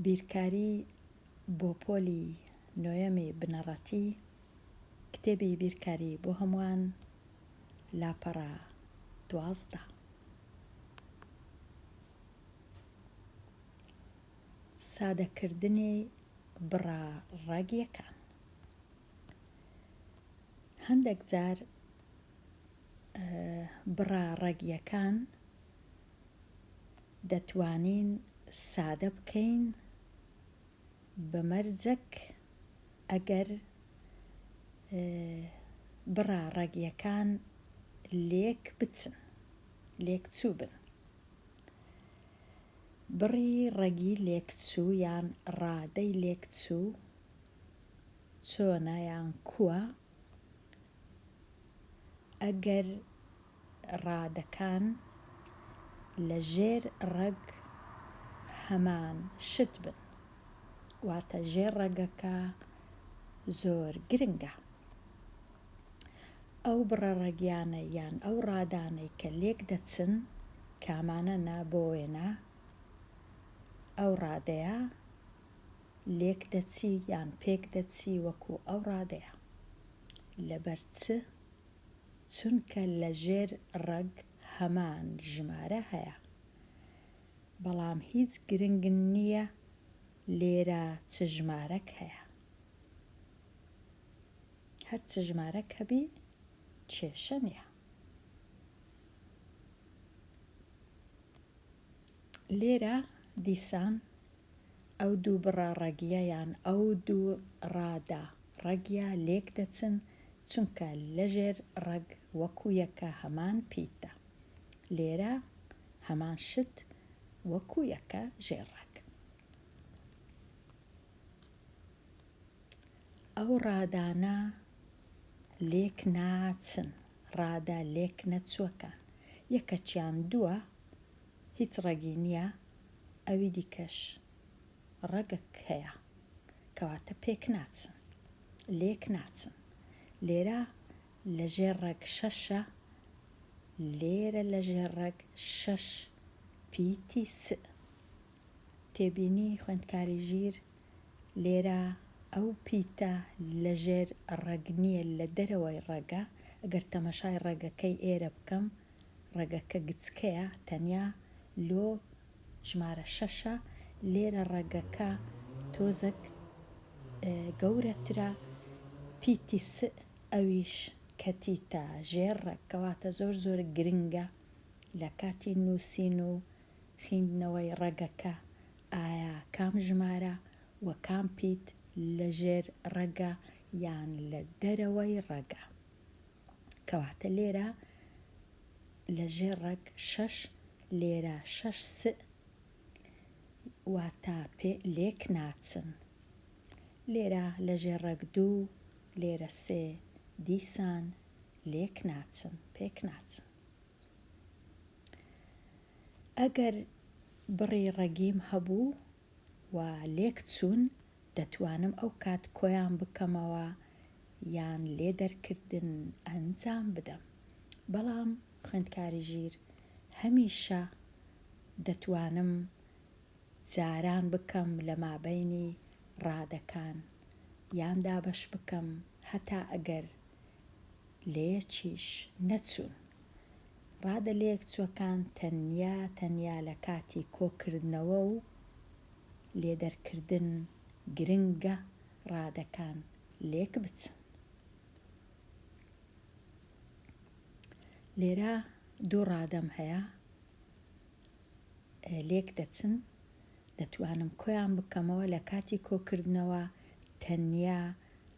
بیرکاری بۆ پۆلی نۆیەمی بنەڕەتی کتێبی بیرکاری بۆ هەمووان لاپەڕە دوازدە سادەکردنی بڕە ڕەگیەکان هەندەک جار بڕە ڕەگیەکان دەتوانین سادە بکەین بە مەرجەک ئەگەر بڕە ڕەگیەکان لێک بچن لێک چوو بن بڕی ڕەگی لێکچوو یان ڕادەی لێکچوو چۆنە یان کووە ئەگەر ڕادەکان لە ژێر ڕەگ هەمان شت بن واتە ژێر ڕەگەکە زۆر گرنگە ئەو بڕە ڕەگیانە یان ئەو ڕادانەی کە لێک دەچن کامانە نا بۆ وێنە ئەو ڕادەیە لێک دەچی یان پێک دەچی وەکو ئەو ڕادەیە. لەبەر چ؟ چونکە لە ژێر ڕەگ هەمان ژمارە هەیە. بەڵام هیچ گرنگ نییە لێرە چ ژمارەک هەیە. هەر چ ژمارەک هەبی کێشە نییە. لێرە دیسان ئەو دوو بڕە ڕەگیە یان ئەو دوو ڕادە ڕەگیە لێک دەچن چونکە لەژێر ڕەگ وەکو یەکە هەمان پیتە لێرە هەمان شت وەکو یەکە ژێر ڕەگ ئەو ڕادانە لێک ناچن ڕادە لێک نەچووەکان یەکەچیان دووە هیچ ڕەگی نیە ئەوی دیکەش ڕەگەک هەیە کەواتە پێک ناچن لێک ناچن لێرە لەژێر ڕەگ شەشە لێرە لەژێر ڕەگ شەش پیتی س. تێبینی، خوێندکاری ژیر، لێرە ئەو پیتە لە ژێر ڕەگ نییە لە دەرەوەی ڕەگە، ئەگەر تەمەشای ڕەگەکەی ئێرە بکەم ڕەگەکە گچکەیە تەنیا لۆ ژمارە شەشە لێرە ڕەگەکە تۆزەک گەورەترە پیتی سئ ئەویش کەتیتە ژێر ڕەگ کەواتە زۆر زۆر گرنگە لە کاتی نوسین و خیندنەوەی ڕەگەکە ئایا کام ژمارە و کام پیت لە ژێر ڕەگە یان لە دەرەوەی ڕەگە کەواتە لێرە لە ژێر ڕەگ شەش لێرە شەش س واتا پێ لێک ناچن لێرە لە ژێر ڕەگ دوو لێرە سێ دیسان لێک ناچن پێک ناچن ئەگەر بڕی ڕەگیم هەبوو و لێکچوون، دەتوانم ئەو کات کۆیان بکەمەوە یان لێ دەرکردن ئەنجام بدەم. بەڵام خوێندکاری ژیر هەمیشە دەتوانم جاران بکەم لە مابەینی ڕادەکان یان دابەش بکەم هەتا ئەگەر لەیەکیش نەچوون. ڕادە لەیەکچووەکان تەنیا تەنیا لە کاتی کۆکردنەوە و لێدەرکردن گرنگە ڕادەکان لێکبچن. لێرە دوو ڕادەم هەیە لێکدەچن. دەتوانم کۆیان بکەمەوە لە کاتی کۆکردنەوە تەنیا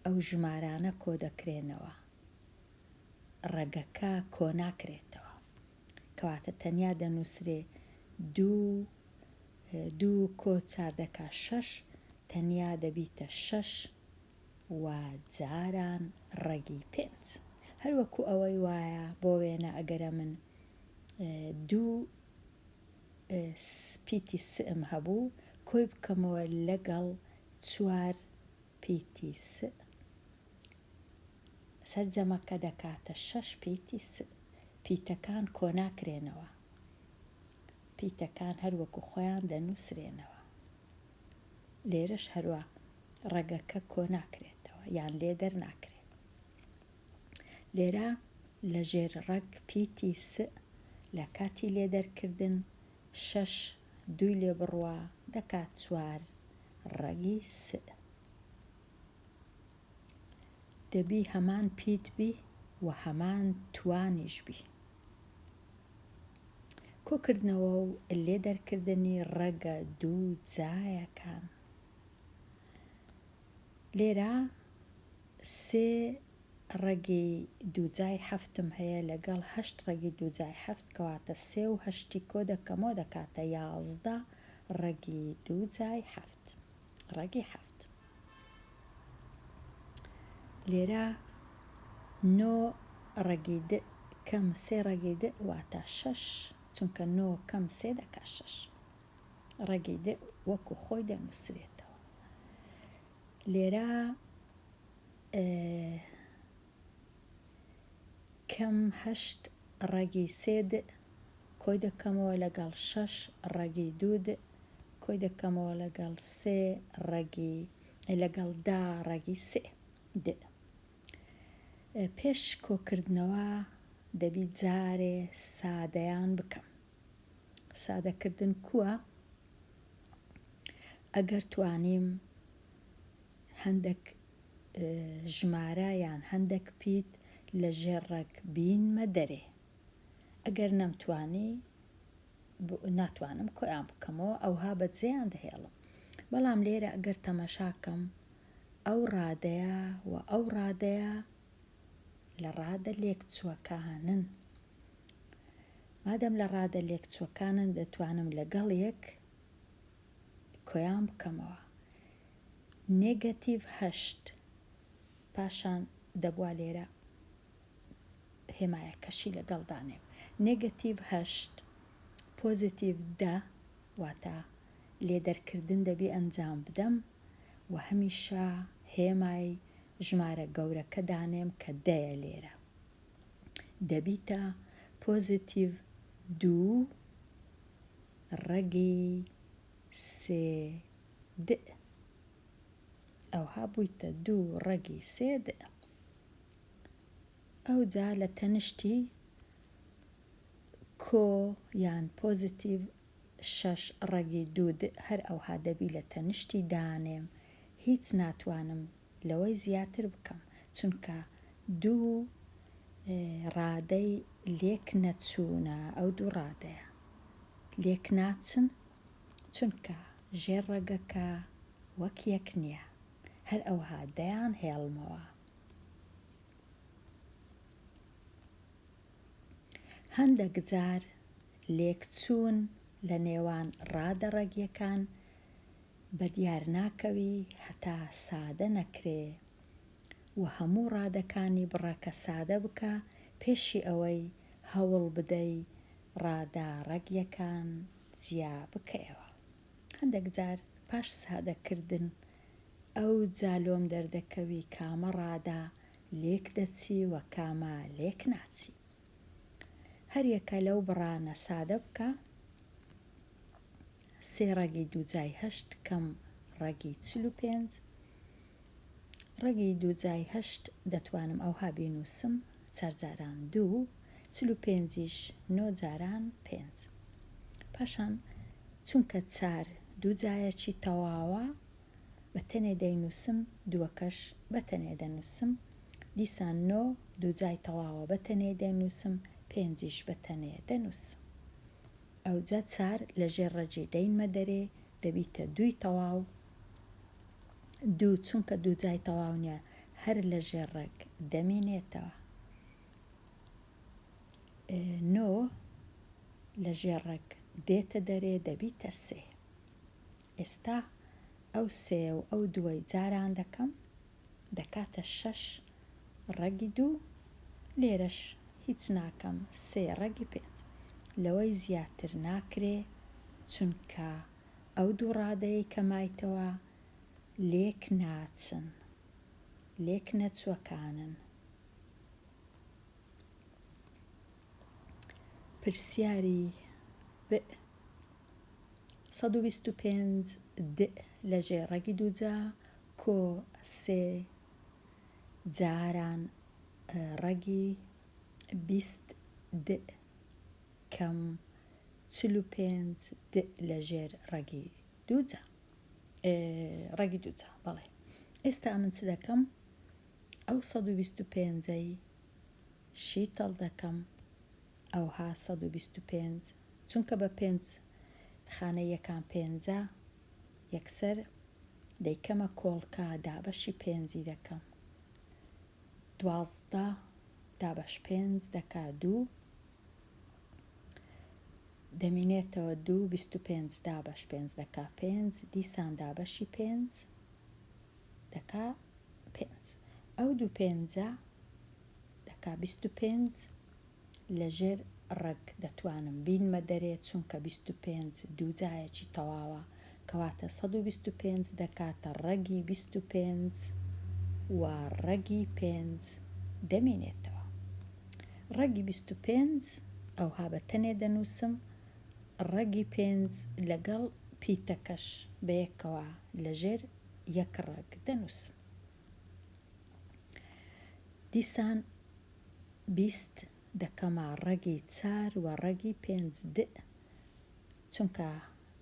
ئەو ژمارانە کۆدەکرێنەوە ڕەگەکە کۆناکرێتەوە کەواتە تەنیا دەنووسرێ دوو دوو کۆ چاردەکە شەش تەنیا دەبیتە شەش و جاران ڕەگی پێنج هەروەکو ئەوەی وایە بۆ وێنە ئەگەرە من دوو پیتی سئم هەبوو کۆی بکەمەوە لەگەڵ چوار پیتی سئ سەرجەمەکە دەکاتە شەش پیتی سئ پیتەکان کۆناکرێنەوە پیتەکان هەر وەکو خۆیان دەنووسرێنەوە لێرەش هەروا ڕەگەکە کۆناکرێتەوە یان لێ دەرناکرێت. لێرە لەژێر ڕەگ پیتی سئ لە کاتی لێدەرکردن شەش دووی لێ بڕوا دەکات چوار ڕەگی سئ دەبی هەمان پیت بی و هەمان توانیش بی کۆکردنەوە و لێدەرکردنی ڕەگە دوو جایەکان لێرە سێ ڕەگی دووجای هەفتم هەیە لەگەڵ هەشت ڕەگی دووجای هەفت کەواتە سێ و هەشتی کۆ دەکەمەوە دەکاتە یازدە ڕەگی دووجای هەفت ڕەگی هەفت لێرە نۆ ڕەگی د کەم سێ ڕەگی د واتە شەش چونکە نۆ کەم سێ دەکا شەش ڕەگی دە وەکو خۆی دەنووسرێتەوە لێرە کەم هەشت ڕەگی سێ دئ کۆی دەکەمەوە لەگەڵ شەش ڕەگی دوو دئ کۆی دەکەمەوە لەگەڵ سێ ڕەگی لەگەڵ دا ڕەگی سێ دئ پێش کۆکردنەوە دەبی جارێ سادەیان بکەم سادەکردن کووە ئەگەر توانیم هەندەک ژمارە یان هەندەک پیت لە ژێر ڕەگ بینمە دەرێ ئەگەر نەمتوانی ناتوانم کۆیان بکەمەوە ئەوها بەجێیان دەهێڵم بەڵام لێرە ئەگەر تەمەشاکەم ئەو ڕادەیە و ئەو ڕادەیە لە ڕادە لێکچووەکانن. مادەم لە ڕادە لێکچووەکانن دەتوانم لەگەڵ یەک کۆیان بکەمەوە. نێگەتیڤ هەشت پاشان دەبوا لێرە هێمایەکەشی لەگەڵدانێم نێگەتیڤ هەشت پۆزیتیڤ دە واتە لێدەرکردن دەبێ ئەنجام بدەم و هەمیشە هێمای ژمارە گەورەکە دانێم کە دەیە لێرە دەبیتە پۆزیتیڤ دوو ڕەگی سێ دئ ئەوها بوویتە دوو ڕەگی سێ دئ ئەو جا لە تەنشتی کۆ یان پۆزیتیڤ شەش ڕەگی دود هەر ئەوها دەبی لە تەنشتی دانێم هیچ ناتوانم لەوەی زیاتر بکەم چونکە دوو ڕادەی لێک نەچوونە ئەو دوو ڕادەیە لێک ناچن چونکە ژێر ڕەگەکە وەک یەک نییە هەر ئەوها دەیان هێڵمەوە. هەندەک جار لێکچوون لە نێوان ڕادە ڕەگیەکان بە دیار ناکەوی هەتا سادە نەکرێ و هەموو ڕادەکانی بڕەکە سادە بکە پێشی ئەوەی هەوڵ بدەی ڕادە ڕەگیەکان جیا بکەیەوە. هەندەک جار پاش سادە کردن ئەوجا لۆم دەردەکەوی کامە ڕادە لێک دەچی و کامە لێک ناچی. هەر یەکە لەو بڕانە سادە بکە، سێ ڕەگی دووجای هەشت کەم ڕەگی چل و پێنج، ڕەگی دووجای هەشت دەتوانم ئەوها بینووسم، چار جاران دوو، چل و پێنجیش نۆ جاران پێنج. پاشان چونکە چار دوو جایەکی تەواوە، بە تەنێ دەینووسم، دووەکەش بە تەنێ دەنووسم، دیسان نۆ دوو جای تەواوە بە تەنێی دەینووسم، پێنجیش بە تەنێ دەنووسم. ئەوجا چار لە ژێر ڕەگی دەینمە دەرێ، دەبیتە دووی تەواو، دوو چونکە دوو جای تەواو نیە هەر لە ژێر ڕێک دەمینێتەوە نۆ لە ژێر ڕێک دێتە دەرێ دەبیتە سێ ئێستا ئەو سێ و ئەو دوای جاران دەکەم دەکاتە شەش ڕەگی دوو لێرەش هیچ ناکەم سێ ڕەگی پێنج لەوەی زیاتر ناکرێ چونکە ئەو دوو ڕادەیەی کە مایتەوە لێک ناچن، لێک نەچووەکانن. پرسیاری، بئ، سەد و بیست و پێنج، دئ، لە ژێ ڕەگی دووجا، کۆ، سێ، جاران ڕەگی، بیست، دئ، کەم چل و پێنج د لەژێر ڕەگی دووجا ڕەگی دووجا بەڵێ ئێستا من چ دەکەم ئەو 125ەی شیتەڵ دەکەم ئەوها 125 چونکە بە پێنج خانە یەکان پێنجە یەکسەر دەیکەمە کۆڵکە دابەشی پێنجی دەکەم دوازدە دابەش پێنج دەکا دوو دەمینێتەوە دوو بیست و پێنج دابەش پێنج دەکا پێنج دیسان دابەشی پێنج دەکا پێنج ئەو دوو پێنجە دەکا بیست و پێنج لەژێر ڕەگ دەتوانم بینمە دەرێ چونکە بیست و پێنج دوو جایەکی تەواوە کەواتە سەد و بیست و پێنج دەکاتە ڕەگی بیست و پێنج و ڕەگی پێنج دەمێنێتەوە. ڕەگی بیست و پێنج ئەوها بە تەنێ دەنووسم، ڕەگی پێنج لەگەڵ پیتەکەش بەیەکەوە لەژێر یەک ڕەگ دەنووسم. دیسان بیست دەکەمە ڕەگی چار و ڕەگی پێنج دئ چونکە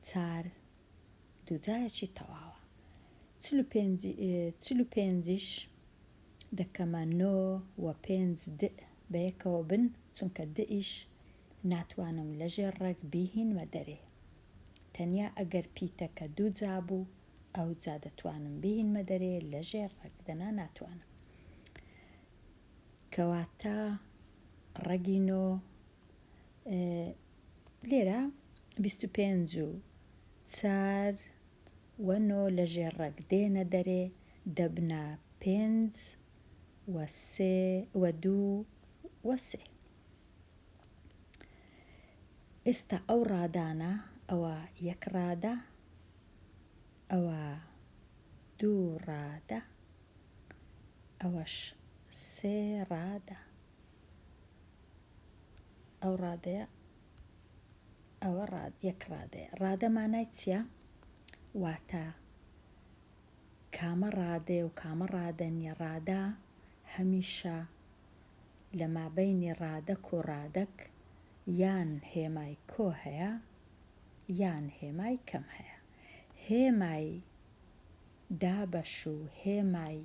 چار دووجایەکی تەواوە. چل و پێنج چل و پێنجیش دەکەمە نۆ و پێنج دئ بەیەکەوە بن، چونکە دئیش ناتوانم لەژێر ڕێک بیهینمە دەرێ. تەنیا ئەگەر پیتەکە دووجا بوو، ئەوجا دەتوانم بیهینمە دەرێ لەژێر ڕێک، دەنا ناتوانم. کەواتە ڕەگی نۆ ئ لێرە بیست و پێنج و چار و نۆ لە ژێر ڕێک دێنە دەرێ دەبنە پێنج و سێ و دوو و سێ. ئێستا ئەو ڕادانە ئەوە یەک ڕادە ئەوە دوو ڕادە ئەوەش سێ ڕادە. ئەو ڕادەیە ئەوە ڕاد یەک ڕادەیە ڕادە مانای چییە واتە کامە ڕادەیە و کامە ڕادە نیە ڕادە هەمیشە لە مابەینی ڕادەک و ڕادەک یان هێمای کۆ هەیە یان هێمای کەم هەیە هێمای دابەش و هێمای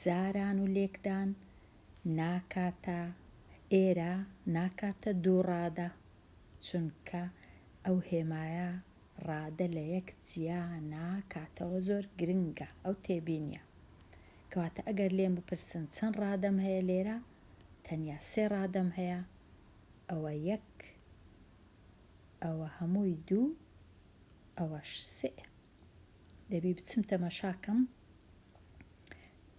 جاران و لێکدان ناکاتە ئێرە ناکاتە دوو ڕادە چونکە ئەو هێمایە ڕادە لە یەک جیا ناکاتەوە زۆر گرنگە ئەو تێبینیە کەواتە ئەگەر لێم بپرسن چەند ڕادەم هەیە لێرە تەنیا سێ ڕادەم هەیە ئەوە یەک ئەوە هەمووی دوو ئەوەش سئ. دەبی بچم تەماشا کەم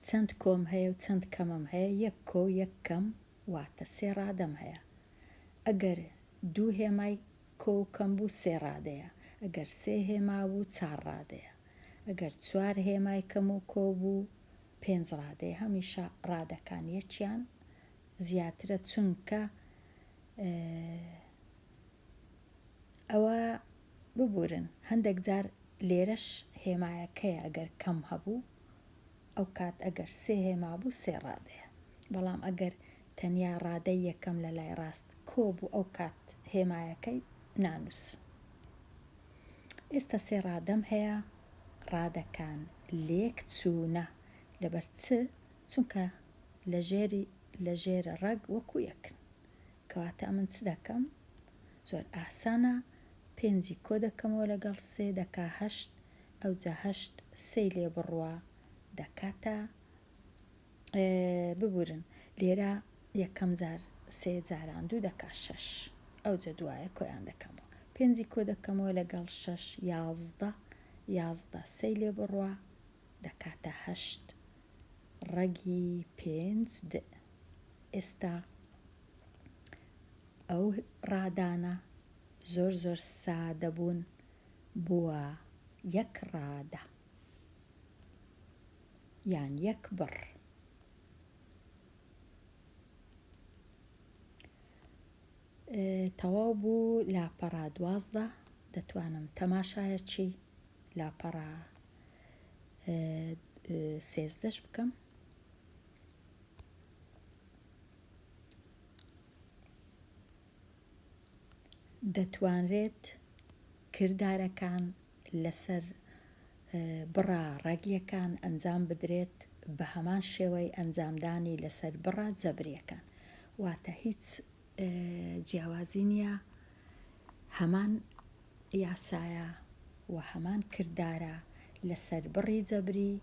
چەند کۆم هەیە و چەند کەمم هەیە یەک کۆ و یەک کەم واتە سێ ڕادەم هەیە ئەگەر دوو هێمای کۆ و کەم بوو سێ ڕادەیە ئەگەر سێ هێما بوو چار ڕادەیە ئەگەر چوار هێمای کەم و کۆ بوو پێنج ڕادەیە هەمیشە ڕادەکان یەکیان زیاترە چونکە ئەوە ببورن هەندەک جار لێرەش هێمایەکەیە ئەگەر کەم هەبوو ئەوکات ئەگەر سێ هێما بوو سێ ڕادەیە بەڵام ئەگەر تەنیا ڕادەی یەکەم لە لای ڕاست کۆ بوو ئەوکات هێمایەکەی نانووس ئێستا سێ ڕادەم هەیە ڕادەکان لێک چوونە لەبەر چ چونکە لە ژێری لە ژێرە ڕەگ وەکوو یەکن کەواتە ئەمن چ دەکەم؟ زۆر ئاسانە، پێنجی کۆ دەکەمەوە لەگەڵ سێ دەکا هەشت، ئەوجا هەشت سێی لێ بڕوا دەکاتە، ببورن لێرە یەکەم جار سێ جاران دوو دەکا شەش، ئەوجە دوایە کۆیان دەکەمەوە، پێنجی کۆ دەکەمەوە لەگەڵ شەش یازدە، یازدە سێی لێ بڕوا دەکاتە هەشت، ڕەگی پێنج دئ. ئێستا ئەو ڕادانە زۆر زۆر سادە بوون بووە یەک ڕادە یان یەک بڕ تەواو بوو لاپەڕا دوازدە دەتوانم تەماشایەکی لاپەڕا سێزدەش بکەم دەتوانرێت کردارەکان لەسەر بڕە ڕەگیەکان ئەنجام بدرێت بەهەمان شێوەی ئەنجامدانی لەسەر بڕە جەبریەکان واتە هیچ جیاوازی نیە هەمان یاسایە و هەمان کردارە لەسەر بڕی جەبری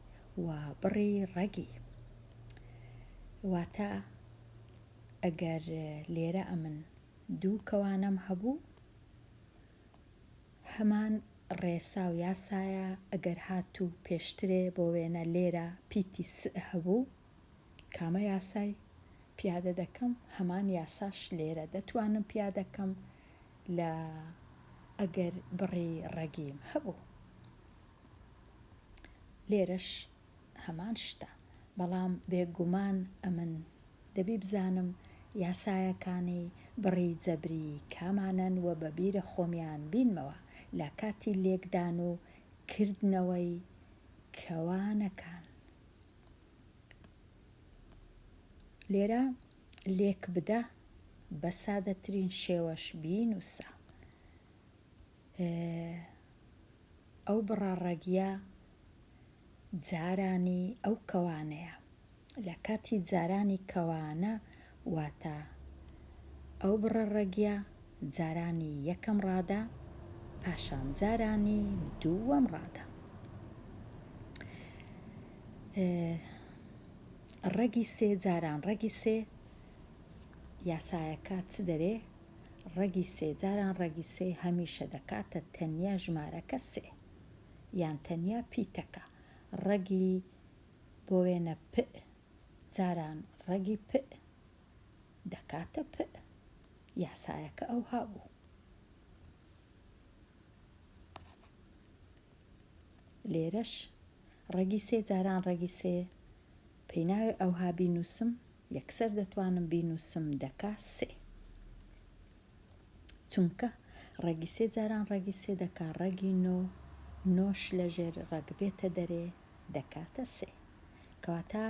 و بڕی ڕەگی واتە ئەگەر لێرە ئەمن دوو کەوانەم هەبوو هەمان ڕێسا و یاسایە ئەگەر هاتوو پێشترێ بۆ وێنە لێرە پیتی س هەبوو کامە یاسای پیادە دەکەم هەمان یاساش لێرە دەتوانم پیادە کەم لە ئەگەر بڕی ڕەگیم هەبوو لێرەش هەمان شتە بەڵام بێگومان ئەمن دەبی بزانم یاسایەکانی بڕی جەبری کامانەن و بەبیرە خۆمیان بینمەوە لە کاتی لێکدان و کردنەوەی کەوانەکان. لێرە لێک بدە بە سادەترین شێوەش بینوسە ئەو بڕاڕەگیە جارانی ئەو کەوانەیە لە کاتی جارانی کەوانە واتە ئەو بڕە ڕەگیە جارانی یەکەم ڕادە پاشان جارانی دووەم ڕادە ڕەگی سێ جاران ڕەگی سێ یاسایەکە چ دەرێ ڕەگی سێ جاران ڕەگی سێ هەمیشە دەکاتە تەنیا ژمارەکە سێ یان تەنیا پیتەکە ڕەگی بۆ وێنە پ جاران ڕەگی پئ دەکاتە پئ. یاسایەکە ئەوها بوو. لێرەش ڕەگی سێ جاران ڕەگی سێ پێی ناوێ ئەوها بینووسم یەکسەر دەتوانم بینووسم دەکا سێ. چونکە ڕەگی سێ جاران ڕەگی سێ دەکا ڕەگی نۆ نۆش لەژێر ڕەگ بێتە دەرێ دەکاتە سێ. کەواتە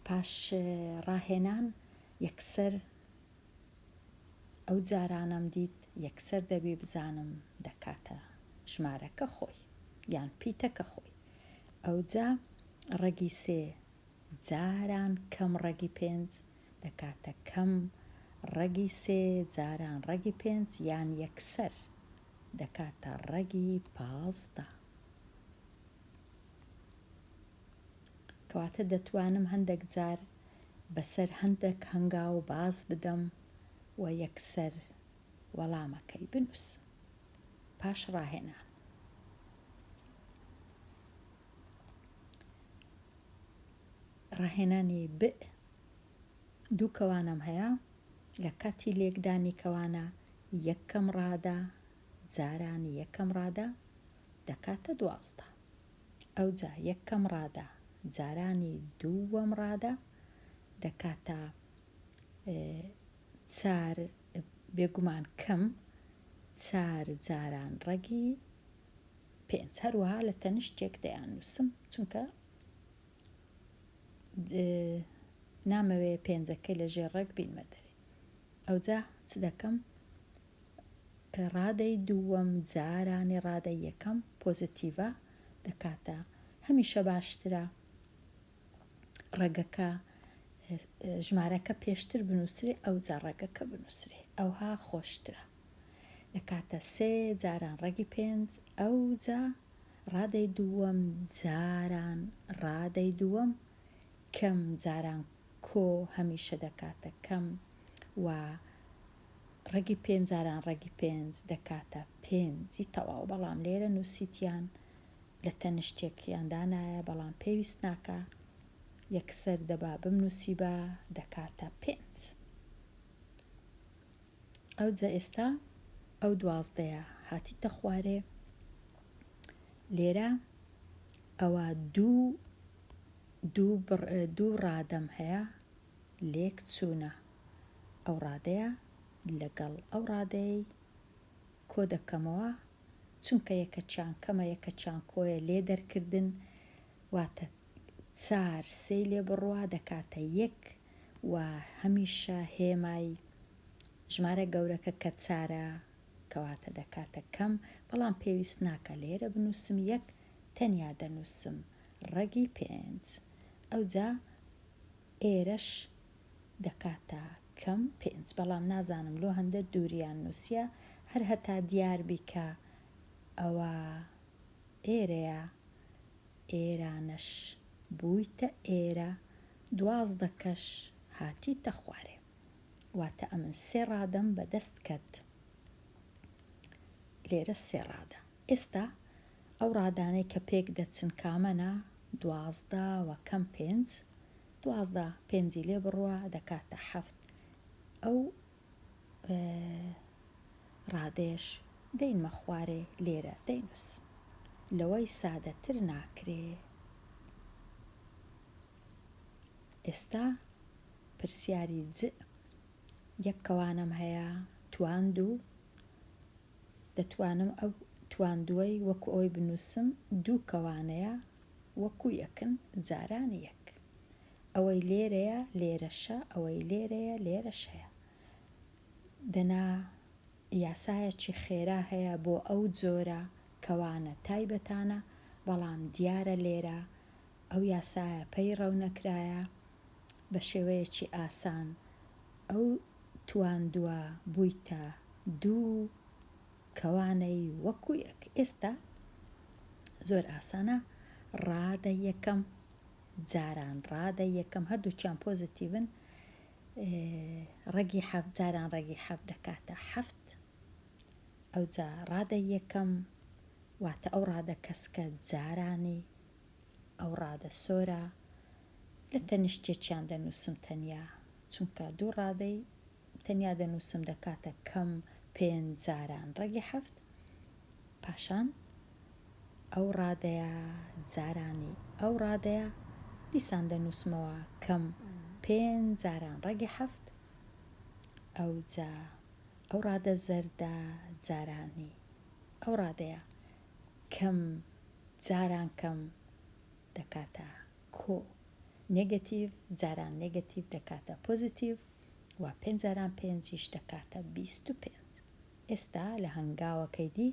پاش ڕاهێنان یەکسەر ئەو جارانەم دیت یەکسەر دەبێ بزانم دەکاتە ژمارەکە خۆی یان پیتەکە خۆی ئەوجا ڕەگی سێ جاران کەم ڕەگی پێنج دەکاتە کەم ڕەگی سێ جاران ڕەگی پێنج یان یەکسەر دەکاتە ڕەگی پازدە کەواتە دەتوانم هەندەک جار بەسەر هەندەک هەنگاو باز بدەم و یەکسەر وەڵامەکەی بنووسم. پاش ڕاهێنان. ڕاهێنانی بئ دوو کەوانم هەیە لە کاتی لێکدانی کەوانە یەکەم ڕادە جاران یەکەم ڕادە دەکاتە دوازدە ئەوجا یەکەم ڕادە جارانی دووەم ڕادە دەکاتە چار بێگومان کەم چار جاران ڕەگی پێنج هەروەها لە تەنیشتێک دەیان نووسم چونکە نامەوێ پێنجەکەی لە ژێر ڕێک بینمە دەرێ ئەوجا چ دەکەم ڕادەی دووەم جارانی ڕادەی یەکەم پۆزەتیڤە دەکاتە هەمیشە باشترە ڕەگەکە ژمارەکە پێشتر بنووسێ ئەو جا ڕەگەکە بنووسێ ئەوها خۆشترە دەکاتە سێ جاران ڕەگی پێنج ئەو جا ڕادەی دووەم جاران ڕادەی دووەم کەم جاران کۆ هەمیشە دەکاتە کەم و ڕەگی پێنج جاران ڕەگی پێنج دەکاتە پێنج ی تەواو بەڵام لێرە نوسیتیان لە تەنشتێک یان دانایە بەڵام پێویست ناکا یەکسەر دەبا بمنوسیبا دەکاتە پێنج. ئەوجە ئێستا ئەو دوازدەیە هاتیتە خوارێ لێرە ئەوە دوو دوو ڕادەم هەیە لێک چوونە ئەو ڕادەیە لەگەڵ ئەو ڕادەی کۆ دەکەمەوە چونکە یەکە چیان کەمە یەکە چیان کۆیە لێ دەرکردن واتە چار سێی لێ بڕوا دەکاتە یەک و هەمیشە هێمای ژمارە گەورەکە کە چارە کەواتە دەکاتە کەم، بەڵام پێویست ناکا لێرە بنووسم یەک، تەنیا دەنووسم ڕەگی پێنج، ئەوجا ئێرەش دەکاتە کەم پێنج، بەڵام نازانم لۆ هەندە دووریان نووسیە، هەر هەتا دیار بی کە ئەوە ئێرەیە ئێرانەش بوویتە ئێرە دوازدە کەش هاتیتە خوارێ واتە ئەمن سێ ڕادەم بە دەست کەت لێرە سێ ڕادە ئێستا ئەو ڕادانەی کە پێک دەچن کامەە دوازدە و کەم پێنج دوازدە پێنجی لێ بڕوە دەکاتە حەفت ئەو ڕادەیەش دەینمە خوارێ لێرە دەینوس لەوەی سادەتر ناکرێ ئێستا پرسیاری جئ یەک کەوانم هەیە تواندوو دەتوانم ئەو تواندووەی وەکو ئەوی بنووسم دوو کەوانەیە وەکو یەکن جاران یەک ئەوەی لێرەیە لێرەشە ئەوەی لێرەیە لێرەش هەیە دەنا یاسایەکی خێرا هەیە بۆ ئەو جۆرە کەوانە تایبەتانە بەڵام دیارە لێرە ئەو یاسایە پەیڕەو نەکرایە بە شێوەیەکی ئاسان ئەو تواندوە بویتە دوو کەوانەی وەکو یەک ئێستا زۆر ئاسانە ڕادە یەکەم جاران ڕادە یەکەم هەردووکیان پۆزەتیڤن ڕەگی حەفت جاران ڕەگی حەفت دەکاتە حەفت ئەوجا ڕادە یەکەم واتە ئەو ڕادە کەسکە جارانی ئەو ڕادە سۆرە لە تەنیشتێکیان دەنووسم تەنیا چونکە دوو ڕادەی تەنیا دەنووسم دەکاتە کەم پێنج جاران ڕەگی حەفت پاشان ئەو ڕادەیە جارانی ئەو ڕادەیە دیسان دەنووسمەوە کەم پێنج جاران ڕەگی حەفت ئەو جا ئەو ڕادە زەردە جارانی ئەو ڕادەیە کەم جاران کەم دەکاتە کۆ نگەتیڤ جاران نگەتیڤ دەکاتە پۆزیتیڤ وا پێنج جاران پێنجیش دەکاتە بیست و پێنج. ئێستا لە هەنگاوەکەی دی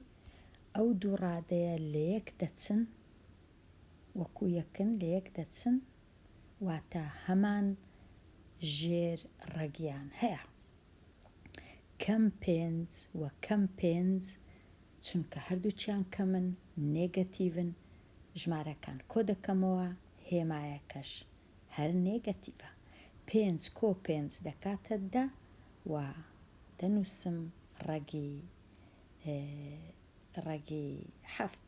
ئەو دوو ڕادەیە لەیەک دەچن وەکو یەکن لەیەک دەچن واتە هەمان ژێر ڕەگیان هەیە کەم پێنج و کەم پێنج چونکە هەردووکیان کەمن نێگەتیڤن ژمارەکان کۆدەکەمەوە هێمایەکەش هەر نێگەتیڤە پێنج کۆ پێنج دەکاتە دە و دەنووسم ڕەگی ڕەگی حەفت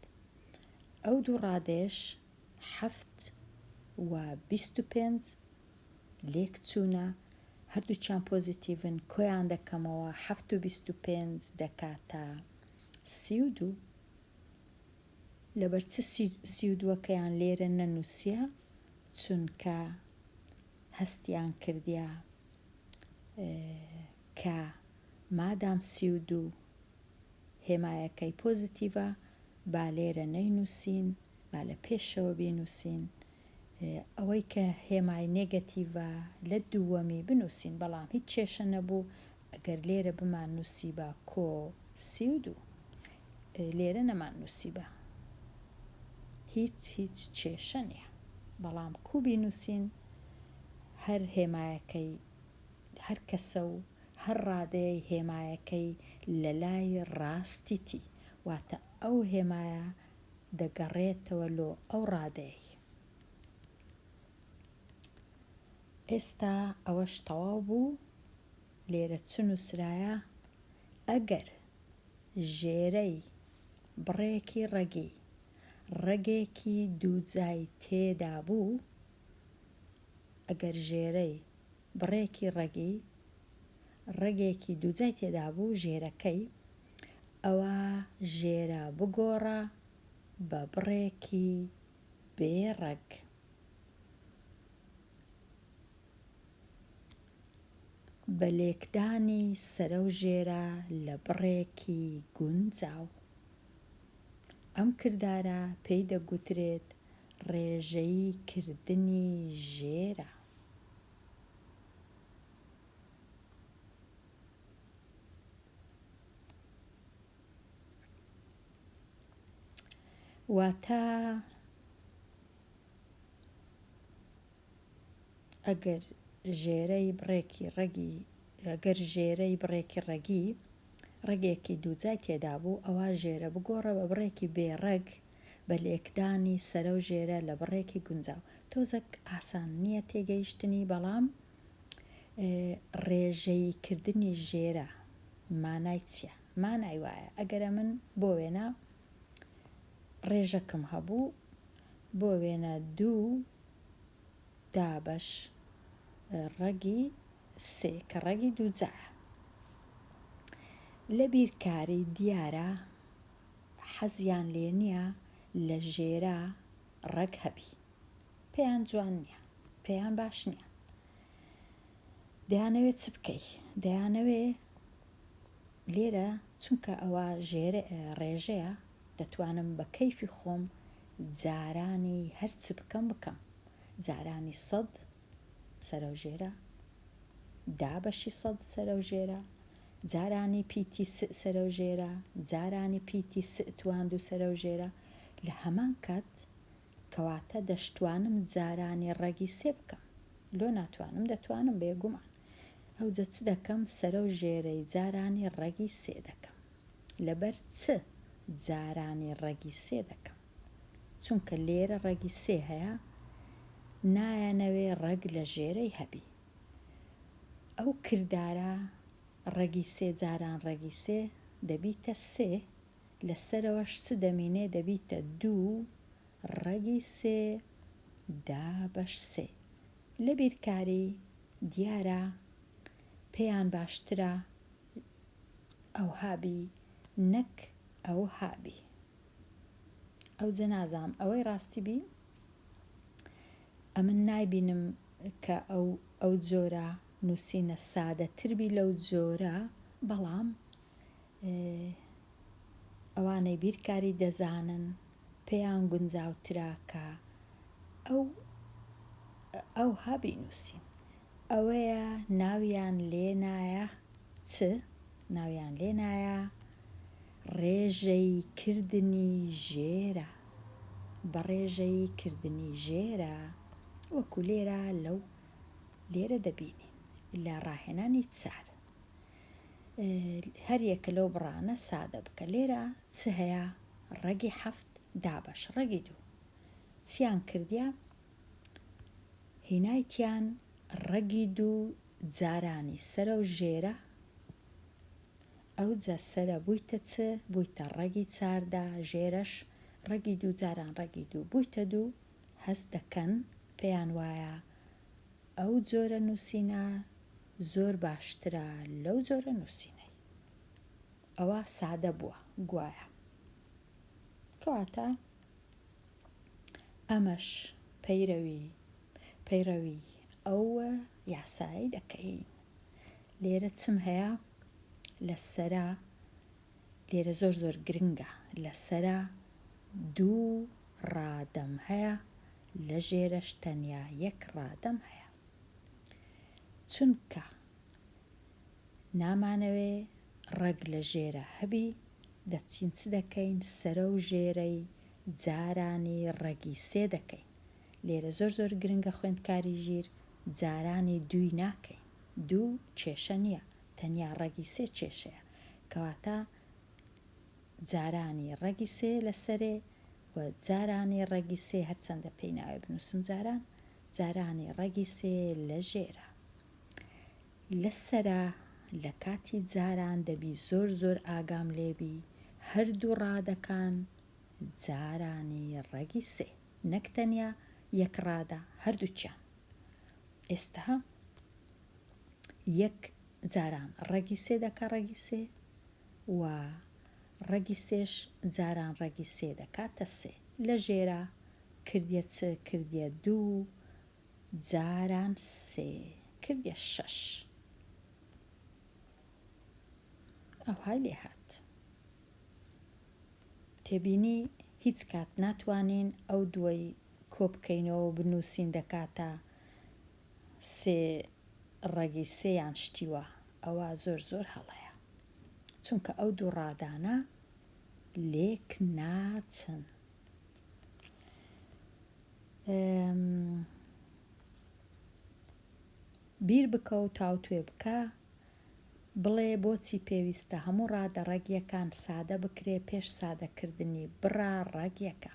ئەو دوو ڕادەیەش حەفت و بیست و پێنج لێکچوونە هەردووچیان پۆزیتیڤن کۆیان دەکەمەوە حەفت و بیست و پێنج دەکاتە سی و دوو لەبەر چ سی و دووەکەیان لێرە نەنووسیە چونکە هەستیان کردیە کە مادام سی و دوو هێمایەکەی پۆزیتیڤە با لێرە نەینووسین با لە پێشەوە بینووسین ئەوەی کە هێمای نێگەتیڤە لە دووەمی بنووسین بەڵام هیچ کێشە نەبوو ئەگەر لێرە بمان نووسیبا کۆ سی و دوو لێرە نەمان نووسیبا هیچ هیچ کێشە نییە بەڵام کو بینووسین هەر هێمایەکەی هەر کەسە و هەر ڕادەیەی هێمایەکەی لە لای ڕاستیتی واتە ئەو هێمایە دەگەڕێتەوە لۆ ئەو ڕادەیەی. ئێستا ئەوەش تەواو بوو، لێرە چ نووسرایە، ئەگەر ژێرەی بڕێکی ڕەگی، ڕەگێکی دووجای تێدا بوو، ئەگەر ژێرەی بڕێکی ڕەگی، ڕەگێکی دووجای تێدا بوو، ژێرەکەی، ئەوا ژێرە بگۆڕە بە بڕێکی بێ ڕەگ. بە لێکدانی سەرەو ژێرە لە بڕێکی گونجاو. ئەم کردارە پێی دەگوترێت ڕێژەیی کردنی ژێرە. واتە ئەگەر ژێرەی بڕێکی ڕەگی گەر ژێرەی بڕێکی ڕەگی ڕەگێکی دووجای تێدا بوو ئەوە ژێرە بگۆڕە بە بڕێکی بێڕەگ بە لێکدانی سەرە و ژێرە لە بڕێکی گونجاو تۆزەک ئاسان نییە تێگەیشتنی بەڵام ڕێژەیی کردنی ژێرە مانای چییە؟ مانای وایە ئەگەر ئەمن بۆ وێنە ڕێژەکم هەبوو بۆ وێنە دوو دابەش ڕەگی سێ کە ڕەگی دووجایە لە بیرکاری دیارە حەزیان لێ نییە لە ژێرە ڕەگ هەبی پێیان جوان نییە پێیان باش نییە دەیانەوێت چ بکەی دەیانەوێ لێرە چونکە ئەوە ژێر ڕێژەیە دەتوانم بە کەیفی خۆم جارانی هەرچ بکەم بکەم جارانی سەد سەرەو ژێرە دا بەشی سەد سەرەو ژێرە جارانی پیتی س سەرەو ژێرە جارانی پیتی س توان دوو سەرەو ژێرە لە هەمان کات کەواتە دەشتوانم جارانی ڕەگی سێ بکەم لۆ ناتوانم دەتوانم بێ گومان ئەوجە چ دەکەم سەرەو ژێرەی جارانی ڕەگی سێ دەکەم لەبەر چ جارانی ڕەگی سێ دەکەم چونکە لێرە ڕەگی سێ هەیە نایانەوێ ڕەگ لە ژێرەی هەبی ئەو کردارە ڕەگی سێ جاران ڕەگی سێ دەبیتە سێ لە سەرەوەش چ دەمینێ دەبیتە دوو ڕەگی سێ دابەش سێ لە بیرکاری دیارە پێیان باشترە ئەوها بی نەک ئەوها بی ئەوجە نازام ئەوەی ڕاستی بی ئەمن نایبینم کە ئەو ئەو جۆرە نووسینە سادەتر بی لەو جۆرە بەڵام ئێ ئەوانەی بیرکاری دەزانن پێیان گونجاوترە کە ئەو ئەوها بینووسین ئەوەیە ناویان لێنایە چ؟ ناویان لێنایە ڕێژەی کردنی ژێرە بە ڕێژەی کردنی ژێرە وەکو لێرە لەو لێرە دەبینین لە ڕاهێنانی چار. هەریەکە لەو بڕانە سادە بکە لێرە چ هەیە ڕەگی حەفت دابەش ڕەگی دوو چیان کردیا هینایتیان ڕەگی دوو جارانی سرە و ژێرە ئەو جە سرە بوویتە چ بوویتە ڕەگی چاردا ژێرەش ڕەگی دوو جاران ڕەگی دوو بوویتە دوو هەست دەکەن پێیان وایە ئەو جۆرە نووسینە زۆر باشترە لەو جۆرە نووسینەی ئەوە سادە بووە گوایە کەواتە ئەمەش پەیرەوی پەیڕەوی ئەو یاسایی دەکەین لێرە چم هەیە لە سەرە لێرە زۆر زۆر گرنگە لەسەرا دوو ڕادەم هەیە لە ژێرەش تەنیا یەک ڕادەم هەیە چونکە نامانەوێ ڕەگ لە ژێرە هەبی دەچین چ دەکەین سەرە و ژێرەی جارانی ڕەگی سێ دەکەین لێرە زۆر زۆر گرنگە خوێندکاری ژیر جارانی دووی ناکەین دوو کێشە نییە تەنیا ڕەگی سێ کێشەیە کەواتە جارانی ڕەگی سێ لە سەرێ و جارانی ڕەگی سێ هەرچەندە پێی ناوێ بنووسم جاران جارانی ڕەگی سێ لە ژێرە لە سەرا لە کاتی جاران دەبی زۆر زۆر ئاگام لێبی هەردوو ڕادەکان جارانی ڕەگی سێ نەک تەنیا یەک ڕادە هەردووچیان ئێستا یەک جاران ڕەگی سێ دەکا ڕەگی سێ و ڕەگی سێش جاران ڕەگی سێ دەکاتە سێ لە ژێرا کردیە چ کردیە دوو جاران سێ کردیە شەش ئەوهای لێ هات تێبینی هیچ کات ناتوانین ئەو دووەی کۆ بکەینەوە بنووسین دەکاتە سێ ڕەگی سێیان شتیوە ئەوە زۆر زۆر هەڵەیە چونکە ئەو دوو ڕادانە لێک ناچن بیر بکە و تاوتوێ بکە بڵێ بۆچی پێویستە هەموو ڕادە ڕەگیەکان سادە بکرێ پێش سادەکردنی بڕا ڕەگیەکە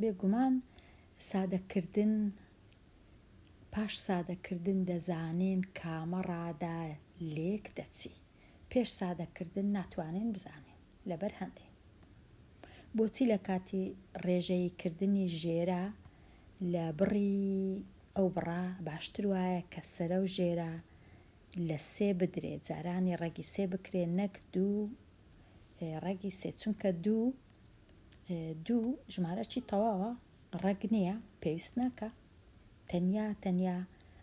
بێگومان سادەکردن پاش سادەکردن دەزانین کامە ڕادە لێک دەچی پێش سادەکردن ناتوانین بزانین لەبەر هەندێ بۆچی لە کاتی ڕێژەیی کردنی ژێرە لە بڕی ئەو بڕە باشتر وایە کە سەرە و ژێرە لە سێ بدرێت جارانی ڕەگی سێ بکرێت نەک دوو ڕەگی سێ چونکە دوو دوو ژمارەکی تەواوە ڕەگ نییە پێویست ناکە تەنیا تەنیا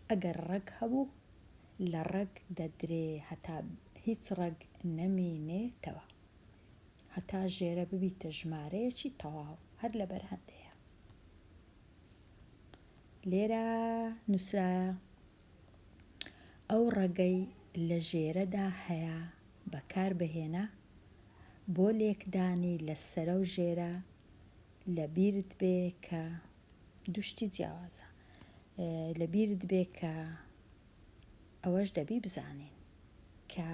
ئەگەر ڕەگ هەبوو لە ڕەگ دەدرێ هەتا هیچ ڕەگ نەمینێتەوە هەتا ژێرە ببیتە ژمارەیەکی تەواو هەر لە بەرهەندەیە لێرە نووسرایە ئەو ڕەگەی لە ژێرەدا هەیە بەکار بهێنە بۆ لێکدانی لە سەرە و ژێرە لە بیرت بێ کە دوشتی جیاوازە لە بیرت بێ کە ئەوەش دەبی بزانین کە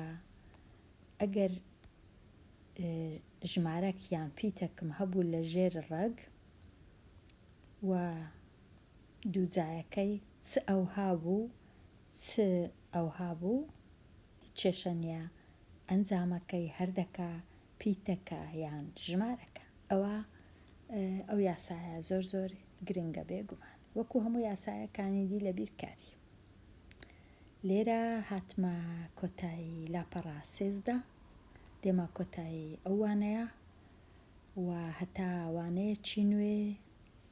ئەگەر ژمارەک یان پیتەکم هەبوو لە ژێر ڕەگ و دووجایەکەی چ ئەوها بوو چ ئەوها بوو هیچ کێشە نیە ئەنجامەکەی هەر دەکە پی تەکە یان ژمارەکە ئەوە ئەو یاسایە زۆر زۆر گرنگە بێ گومان وەکو هەموو یاسایە کانی دی لە بیر کاری لێرە هاتمە کۆتایی لاپەڕە سێزدە دێمە کۆتایی ئەو وانەیە و هەتا وانەیەکی نوێ